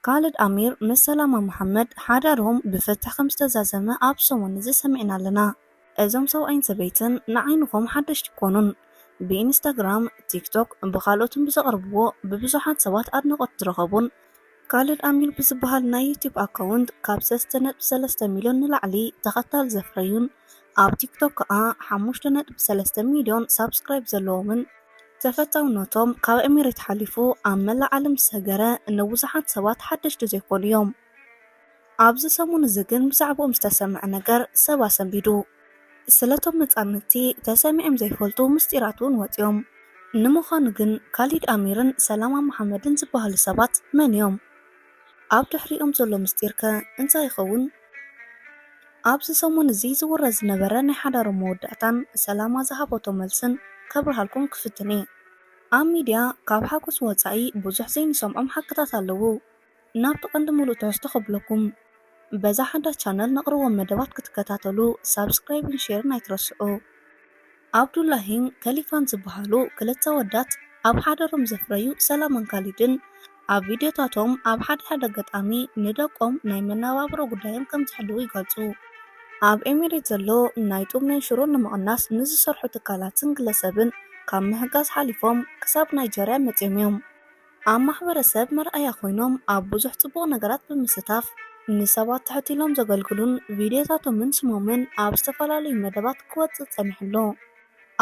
ካልድ ኣሚር ምስ ሰላማ መሓመድ ሓዳሮም ብፍትሕ ከም ዝተዛዘመ ኣብ ሰሙን እዚ ሰሚዕና ኣለና። እዞም ሰብኣይን ሰበይትን ንዓይንኹም ሓደሽቲ ኣይኮኑን። ብኢንስታግራም፣ ቲክቶክ ብኻልኦትን ብዘቕርብዎ ብብዙሓት ሰባት ኣድናቖት ዝረኸቡን፣ ካልድ ኣሚር ብዝበሃል ናይ ዩቱብ ኣካውንት ካብ ሰለስተ ነጥቢ ሰለስተ ሚልዮን ንላዕሊ ተኸታሊ ዘፍረዩን ኣብ ቲክቶክ ከኣ ሓሙሽተ ነጥቢ ሰለስተ ሚልዮን ሳብስክራይብ ዘለዎምን ተፈታውነቶም ካብ ኤሚሬት ሓሊፉ ኣብ መላእ ዓለም ዝሰገረ ንብዙሓት ሰባት ሓደሽቲ ዘይኮኑ እዮም። ኣብዚ ሰሙን እዚ ግን ብዛዕብኦም ዝተሰምዐ ነገር ሰብ ኣሰንቢዱ። ስለቶም ነጻነቲ ተሰሚዖም ዘይፈልጡ ምስጢራት እውን ወጺኦም። ንምዃኑ ግን ካሊድ ኣሚርን ሰላማ መሓመድን ዝበሃሉ ሰባት መን እዮም? ኣብ ድሕሪኦም ዘሎ ምስጢር ከ እንታይ ይኸውን? ኣብዚ ሰሙን እዚ ዝውረ ዝነበረ ናይ ሓዳሮም መወዳእታን ሰላማ ዝሃበቶ መልስን ከብርሃልኩም ክፍትን እየ። ኣብ ሚድያ ካብ ሓጎስ ወፃኢ ብዙሕ ዘይንሰምዖም ሓቅታት ኣለዉ። ናብቲ ቀንዲ ሙሉእ ትሕዝቶ ከብለኩም በዛ ሓዳስ ቻነል ነቕርቦም መደባት ክትከታተሉ ሳብስክራይብን ሼርን ኣይትረስዑ። ዓብዱላሂን ከሊፋን ዝበሃሉ ክልተ ኣወዳት ኣብ ሓዳሮም ዘፍረዩ ሰላማን ካሊድን፣ ኣብ ቪድዮታቶም ኣብ ሓደ ሓደ ኣጋጣሚ ንደቆም ናይ መነባብሮ ጉዳዮም ከም ዝሕልዉ ይገልጹ። ኣብ ኤሚሬት ዘሎ ናይ ጡብ መንሽሮ ንምቕናስ ንዝሰርሑ ትካላትን ግለሰብን ካብ ምህጋዝ ሓሊፎም ክሳብ ናይጀርያ መጺኦም'ዮም። ኣብ ማሕበረሰብ መርኣያ ኮይኖም ኣብ ብዙሕ ፅቡቕ ነገራት ብምስታፍ ንሰባት ትሕት ኢሎም ዘገልግሉን ቪድዮታቶምን ስሞምን ኣብ ዝተፈላለዩ መደባት ክወፅእ ፀኒሑ ኣሎ።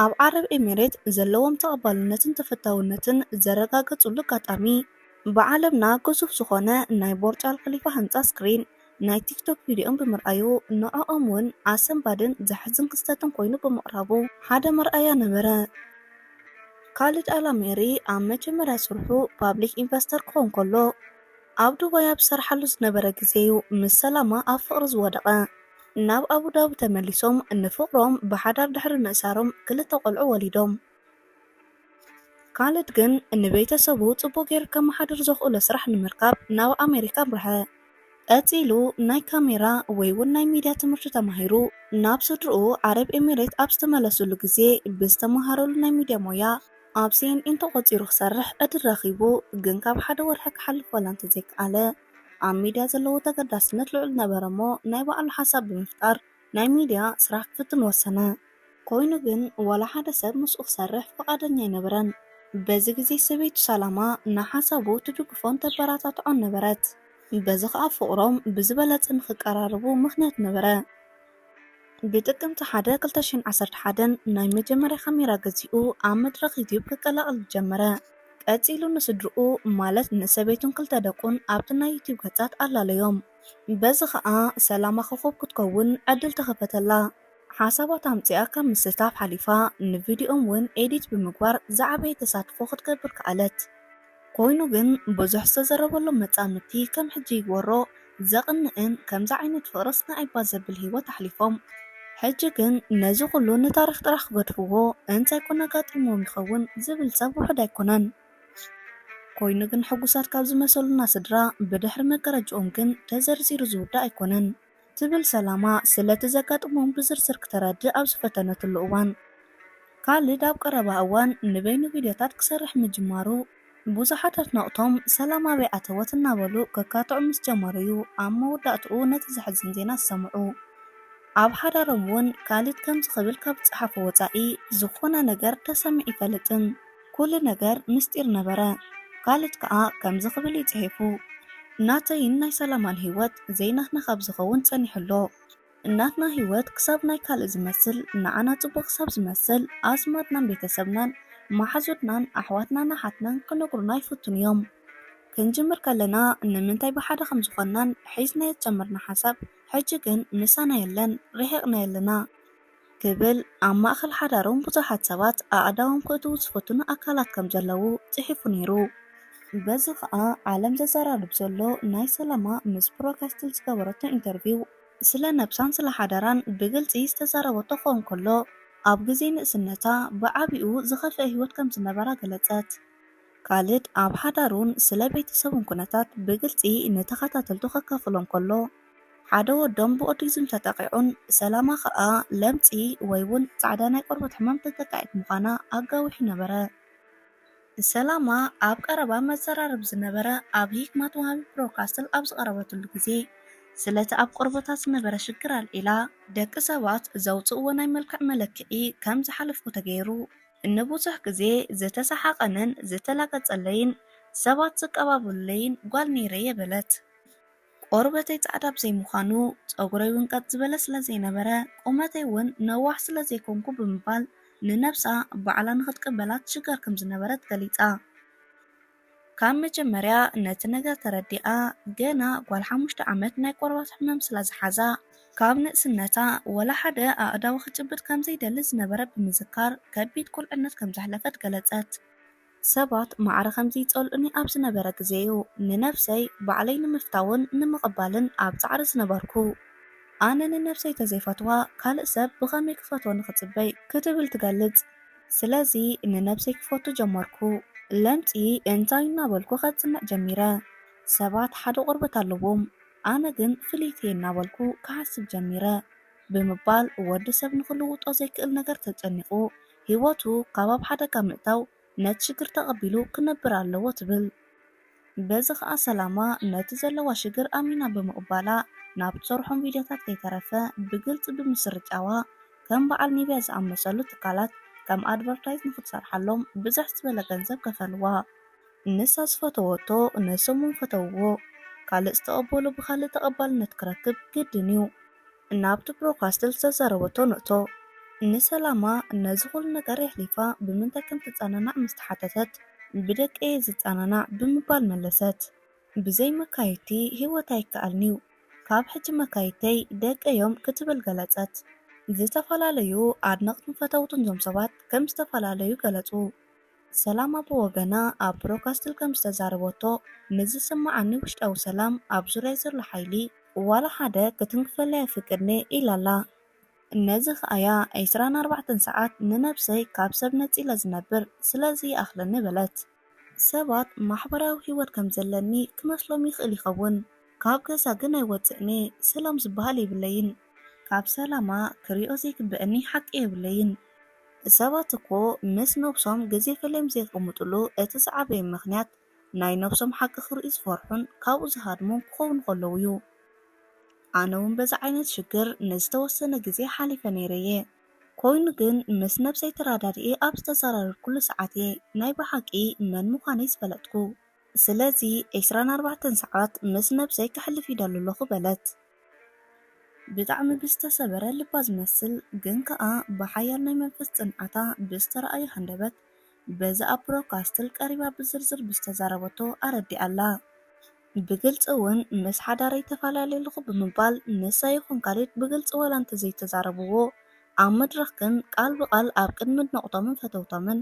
ኣብ ዓረብ ኤሚሬት ዘለዎም ተቐባልነትን ተፈታውነትን ዘረጋገፅሉ ኣጋጣሚ ብዓለምና ግዙፍ ዝኾነ ናይ ቦርጅ ኣልኸሊፋ ህንፃ ስክሪን ናይ ቲክቶክ ቪድዮም ብምርኣዩ ንዕኦም ውን ኣሰንባድን ዘሕዝን ክስተትን ኮይኑ ብምቕራቡ ሓደ መርኣያ ነበረ። ካልድ ኣላሜሪ ኣብ መጀመርያ ስርሑ ፓብሊክ ኢንቨስተር ክኾን ከሎ ኣብ ዱባይ ኣብ ዝሰርሓሉ ዝነበረ ግዜ ዩ ምስ ሰላማ ኣብ ፍቕሪ ዝወደቐ። ናብ ኣቡዳቢ ተመሊሶም ንፍቕሮም ብሓዳር ድሕሪ ምእሳሮም ክልተ ቆልዑ ወሊዶም። ካልድ ግን ንቤተሰቡ ጽቡቕ ጌሩ ከመሓድር ዘኽእሎ ስራሕ ንምርካብ ናብ ኣሜሪካ ኣምርሐ። ቀጺሉ ናይ ካሜራ ወይ'ውን ናይ ሚድያ ትምህርቲ ተማሂሩ። ናብ ስድርኡ ዓረብ ኤሚሬት ኣብ ዝተመለሰሉ ግዜ ብዝተመሃረሉ ናይ ሚድያ ሞያ ኣብ ሲኤንኤን ተቖጺሩ ክሰርሕ ዕድል ረኺቡ። ግን ካብ ሓደ ወርሒ ክሓልፍ ዋላ እንተዘይከኣለ ኣብ ሚድያ ዘለዎ ተገዳስነት ልዑል ነበረ'ሞ ናይ ባዕሉ ሓሳብ ብምፍጣር ናይ ሚድያ ስራሕ ክፍትን ወሰነ። ኮይኑ ግን ዋላ ሓደ ሰብ ምስኡ ክሰርሕ ፍቓደኛ ኣይነበረን። በዚ ግዜ ሰበይቱ ሳላማ ንሓሳቡ ትድግፎን ተበረታትዖን ነበረት። በዚ ከኣ ፍቕሮም ብዝበለጸ ንኽቀራረቡ ምኽንያት ነበረ። ብጥቅምቲ ሓደ ክልተ ሽሕን ዓሰርተ ሓደን ናይ መጀመርያ ካሜራ ገዚኡ ኣብ መድረኽ ዩትዩብ ክቀላቐል ጀመረ። ቀጺሉ ንስድርኡ ማለት ንሰበይቱን ክልተ ደቁን ኣብቲ ናይ ዩትዩብ ገጻት ኣላለዮም። በዚ ከኣ ሰላማ ኮኾብ ክትከውን ዕድል ተኸፈተላ። ሓሳባት ኣምጺኣ ካብ ምስታፍ ሓሊፋ ንቪድዮኦም እውን ኤዲት ብምግባር ዝዓበየ ተሳትፎ ክትገብር ከኣለት። ኮይኑ ግን ብዙሕ ዝተዘረበሎም መጻምድቲ ከም ሕጂ ይግበሮ ዘቕንእን ከምዚ ዓይነት ፍቕርስ ንኣይባ ዘብል ህይወት ኣሕሊፎም። ሕጂ ግን ነዚ ኩሉ ንታሪኽ ጥራሕ ክገድፍዎ እንታይ ኮን ኣጋጢምዎም ይኸውን ዝብል ሰብ ውሑድ ኣይኮነን። ኮይኑ ግን ሕጉሳት ካብ ዝመሰሉና ስድራ ብድሕሪ መጋረጅኦም ግን ተዘርዚሩ ዝውዳእ ኣይኮነን ትብል ሰላማ ስለቲ ዘጋጥሞም ብዝርዝር ክተረድእ ኣብ ዝፈተነትሉ እዋን። ካልድ ኣብ ቀረባ እዋን ንበይኑ ቪድዮታት ክሰርሕ ምጅማሩ ብዙሓት ኣድነቕቶም ሰላም ኣበይ ኣተወት እናበሉ ከካትዑ ምስ ጀመሩ እዩ ኣብ መወዳእትኡ ነቲ ዘሕዝን ዜና ዝሰምዑ። ኣብ ሓዳሮም እውን ካልድ ከምዚ ክብል ካብ ዝጸሓፎ ወጻኢ ዝኾነ ነገር ተሰሚዑ ኣይፈልጥን። ኩሉ ነገር ምስጢር ነበረ። ካልድ ከኣ ከምዚ ክብል እዩ ጽሒፉ፣ ናተይን ናይ ሰላማን ህይወት ዘይናትና ካብ ዝኸውን ጸኒሑ ኣሎ። ናትና ህይወት ክሳብ ናይ ካልእ ዝመስል፣ ንዓና ጽቡቕ ክሳብ ዝመስል፣ ኣዝማድናን ቤተሰብናን መሓዙትናን ኣሕዋትናን ኣሓትናን ክነግሩና ይፍትኑ እዮም። ክንጅምር ከለና ንምንታይ ብሓደ ከም ዝኾንናን ሒዝናዮ ዝጀመርና ሓሳብ ሕጂ ግን ምሳና የለን፣ ርሒቕናዮ ኣለና። ክብል ኣብ ማእከል ሓዳሮም ብዙሓት ሰባት ኣእዳዎም ክእትዉ ዝፍትኑ ኣካላት ከም ዘለዉ ጽሒፉ ነይሩ። በዚ ኸኣ ዓለም ዘዘራርብ ዘሎ ናይ ሰለማ ምስ ፕሮካስትል ዝገበረቶ ኢንተርቪው፣ ስለ ነብሳን ስለ ሓዳራን ብግልጺ ዝተዛረበቶ ክኸውን ከሎ፣ ኣብ ግዜ ንእስነታ ብዓቢኡ ዝኸፍኤ ህይወት ከም ዝነበራ ገለጸት። ካልድ ኣብ ሓዳሩን ስለ ቤተሰቡን ኩነታት ብግልጺ ንተኸታተልቱ ከካፍሎም ከሎ፣ ሓደ ወዶም ብኦቲዝም ተጠቒዑን ሰላማ ከኣ ለምጺ ወይውን ጻዕዳ ናይ ቆርበት ሕማም ተጠቃዒት ምዃና ኣጋዊሑ ነበረ። ሰላማ ኣብ ቀረባ መዘራረቢ ዝነበረ ኣብ ሂክማት ወሃቢ ብሮድካስትል ኣብ ዝቐረበትሉ ግዜ ስለቲ ኣብ ቆርበታ ዝነበረ ሽግር ኣልዒላ ደቂ ሰባት ዘውጽእዎ ናይ መልክዕ መለክዒ ከም ዝሓለፍኩ ተገይሩ ንብዙሕ ግዜ ዝተሰሓቐንን ዝተላገጸለይን ሰባት ዝቀባበሉለይን ጓል ነይረየ በለት። ቆርበተይ ጻዕዳ ብዘይምዃኑ፣ ጸጉረይ እውን ቀጥ ዝበለ ስለዘይነበረ፣ ቁመተይ እውን ነዋሕ ስለዘይኮንኩ ብምባል ንነብሳ ባዕላ ንኽትቅበላ ትሽገር ከምዝነበረት ገሊጻ። ካብ መጀመርያ ነቲ ነገር ተረዲኣ፣ ገና ጓል ሓሙሽተ ዓመት ናይ ቆርበት ሕመም ስለዝሓዛ፣ ካብ ንእስነታ ወላ ሓደ ኣእዳው ክጭብጥ ከምዘይደሊ ዝነበረ ብምዝካር ከቢድ ቁልዕነት ከምዘሕለፈት ገለጸት። ሰባት ማዕረ ኸምዚ ይጸልኡኒ ኣብ ዝነበረ ግዜ'ዩ ንነፍሰይ ባዕለይ ንምፍታውን ንምቕባልን ኣብ ጻዕሪ ዝነበርኩ። ኣነ ንነፍሰይ ተዘይፈትዋ ካልእ ሰብ ብኸመይ ክፈትዎ ንኽጽበይ? ክትብል ትገልጽ። ስለዚ ንነብሰይ ክፈቱ ጀመርኩ። ለምጺ እንታይ እናበልኩ ከጽንዕ ጀሚረ። ሰባት ሓደ ቆርበት ኣለዎም፣ ኣነ ግን ፍልይቲ'የ እናበልኩ ክሓስብ ጀሚረ ብምባል ወዲ ሰብ ንኽልውጦ ዘይክእል ነገር ተጨኒቑ ህይወቱ ካብ ኣብ ሓደጋ ምእታው ነቲ ሽግር ተቐቢሉ ክነብር ኣለዎ ትብል። በዚ ከኣ ሰላማ ነቲ ዘለዋ ሽግር ኣሚና ብምቕባላ ናብ ትሰርሖም ቪድዮታት ከይተረፈ ብግልጺ ብምስርጫዋ ከም በዓል ኒቭያ ዝኣመሰሉ ትካላት ከም ኣድቨርታይዝ ንኽትሰርሓሎም ብዝሕ ዝበለ ገንዘብ ከፈልዋ። ንሳ ዝፈተወቶ ንሶም'ውን ፈተውዎ። ካልእ ዝተቐበሎ ብኻልእ ተቐባልነት ክረክብ ግድን'ዩ። እናብቱ ብሮካስትል ዝተዛረበቶ ንእቶ። ንሰላማ ነዚ ኹሉ ነገር የሕሊፋ ብምንታይ ከም ትጸናናዕ ምስ ተሓተተት፣ ብደቀይ'የ ዝጸናናዕ ብምባል መለሰት። ብዘይ መካይድቲ ህይወት ኣይከኣልን'ዩ፣ ካብ ሕጂ መካይድተይ ደቀይ'ዮም ክትብል ገለጸት። ዝተፈላለዩ ኣድነቕትን ፈተውትን እዞም ሰባት ከም ዝተፈላለዩ ገለጹ። ሰላማ ብወገና ኣብ ብሮድካስትል ከም ዝተዛረበቶ፣ ምስ ዝስመዓኒ ውሽጣዊ ሰላም ኣብ ዙርያይ ዘሎ ሓይሊ ዋላ ሓደ ክትንክፈለይ ኣይፍቅድን'የ ኢላ'ላ። ነዚ ከኣ'ያ ዕስራን ኣርባዕተን ሰዓት ንነብሰይ ካብ ሰብ ነጺለ ዝነብር፣ ስለዚ ይኣኽለኒ በለት። ሰባት ማሕበራዊ ህይወት ከም ዘለኒ ክመስሎም ይኽእል ይኸውን፣ ካብ ገዛ ግን ኣይወጽእን'የ፣ ሰላም ዝበሃል የብለይን። ካብ ሰላማ ክሪኦ ዘይግበኣኒ ሓቂ የብለይን። ሰባት እኮ ምስ ነብሶም ግዜ ፈሊዮም ዘይቅምጥሉ እቲ ዝዓበየ ምኽንያት ናይ ነብሶም ሓቂ ክርእዩ ዝፈርሑን ካብኡ ዝሃድሙን ክኾኑ ከለው እዩ። ኣነ ውን በዚ ዓይነት ሽግር ንዝተወሰነ ግዜ ሓሊፈ ነይረ እየ። ኮይኑ ግን ምስ ነብሰይ ተራዳዲኤ ኣብ ዝተዘራረድኩሉ ሰዓት እየ ናይ ብሓቂ መን ምዃነይ ዝፈለጥኩ። ስለዚ ዕስራን ኣርባዕተን ሰዓት ምስ ነብሰይ ከሕልፍ ይደሊ ኣለኹ በለት። ብጣዕሚ ብዝተሰበረ ልባ ዝመስል ግን ከኣ ብሓያል ናይ መንፈስ ጽንዓታ ብዝተራእዮ ሃንደበት በዚ ኣብ ብሮድካስትል ቀሪባ ብዝርዝር ብዝተዛረበቶ ኣረዲኣላ። ብግልጺ ውን ምስ ሓዳረይ ተፋላልየ ኣለኹ ብምባል ንሳ ይኹን ካሌድ ብግልጺ ዋላ እንተዘይተዛረብዎ ኣብ መድረኽ ግን ቃል ብቓል ኣብ ቅድሚ ኣድነቕቶምን ፈተውቶምን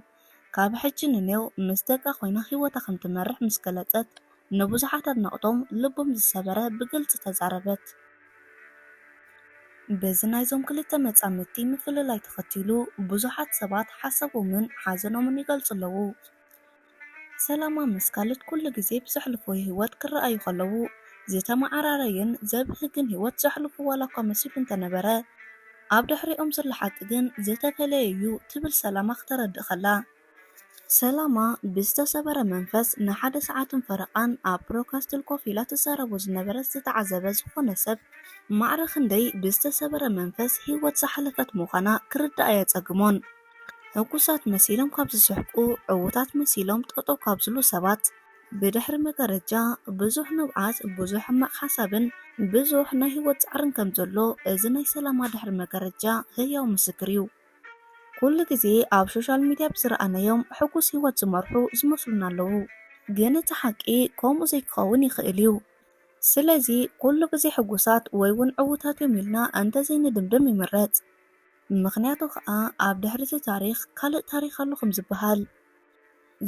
ካብ ሕጂ ንኔው ምስ ደቃ ኮይና ህይወታ ከም ትመርሕ ምስ ገለጸት፣ ንብዙሓት ኣድነቕቶም ልቦም ዝሰበረ ብግልጺ ተዛረበት። በዚ ናይዞም ክልተ መጻምድቲ ምፍልላይ ተኸቲሉ ብዙሓት ሰባት ሓሳቦምን ሓዘኖምን ይገልጹ ኣለዉ። ሰላማ ምስ ካልድ ኩሉ ግዜ ብዘሕልፍዎ ህይወት ክረኣዩ ከለዉ ዝተመዓራረየን ዘብህግን ህይወት ዘሕልፉ ዋላኳ መሲሉ እንተነበረ፣ ኣብ ድሕሪኦም ዘሎ ሓቂ ግን ዝተፈለየ ዩ ትብል ሰላማ ክተረድእ ከላ። ሰላማ ብዝተሰበረ መንፈስ ንሓደ ሰዓትን ፈረቓን ኣብ ፕሮካስትል ኮፍ ኢላ ትዛረቦ ዝነበረት ዝተዓዘበ ዝኾነ ሰብ ማዕረ ክንደይ ብዝተሰበረ መንፈስ ሂወት ዝሓለፈት ምዃና ክርዳእ ኣየጸግሞን። ሕጉሳት መሲሎም ካብ ዝስሕቁ፣ ዕዉታት መሲሎም ጠጠው ካብ ዝሉ ሰባት፣ ብድሕሪ መጋረጃ ብዙሕ ንብዓት፣ ብዙሕ ሕማቕ ሓሳብን ብዙሕ ናይ ህይወት ጻዕርን ከም ዘሎ እዚ ናይ ሰላማ ድሕሪ መጋረጃ ህያው ምስክር እዩ። ኩሉ ግዜ ኣብ ሾሻል ሚድያ ብዝረኣናዮም ሕጉስ ህይወት ዝመርሑ ዝመስሉና ኣለዉ፣ ግን እቲ ሓቂ ከምኡ ዘይክኸውን ይኽእል እዩ። ስለዚ ኩሉ ግዜ ሕጉሳት ወይ ውን ዕዉታት እዮም ኢልና እንተ ዘይንድምድም ይምረጽ። ምኽንያቱ ከኣ ኣብ ድሕሪ እቲ ታሪኽ ካልእ ታሪኽ ኣሎ ከም ዝበሃል።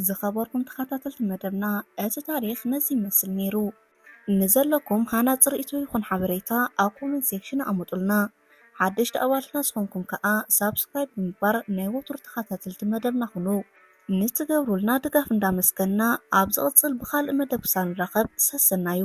ዝኸበርኩም ተኻታተልቲ መደብና እቲ ታሪኽ ነዚ ይመስል ነይሩ። ንዘለኩም ሃናጺ ርእይቶ ይኹን ሓበሬታ ኣብ ኮመንት ሴክሽን ኣሙጡልና። ሓደሽቲ ኣባልትና ዝኾንኩም ከኣ ሳብስክራይብ ብምግባር ናይ ወትሩ ተኻታተልቲ መደብና ኩኑ። ንትገብሩልና ድጋፍ እንዳመስገንና ኣብ ዝቕጽል ብኻልእ መደብ ክሳብ ንራኸብ ሰሰናዩ።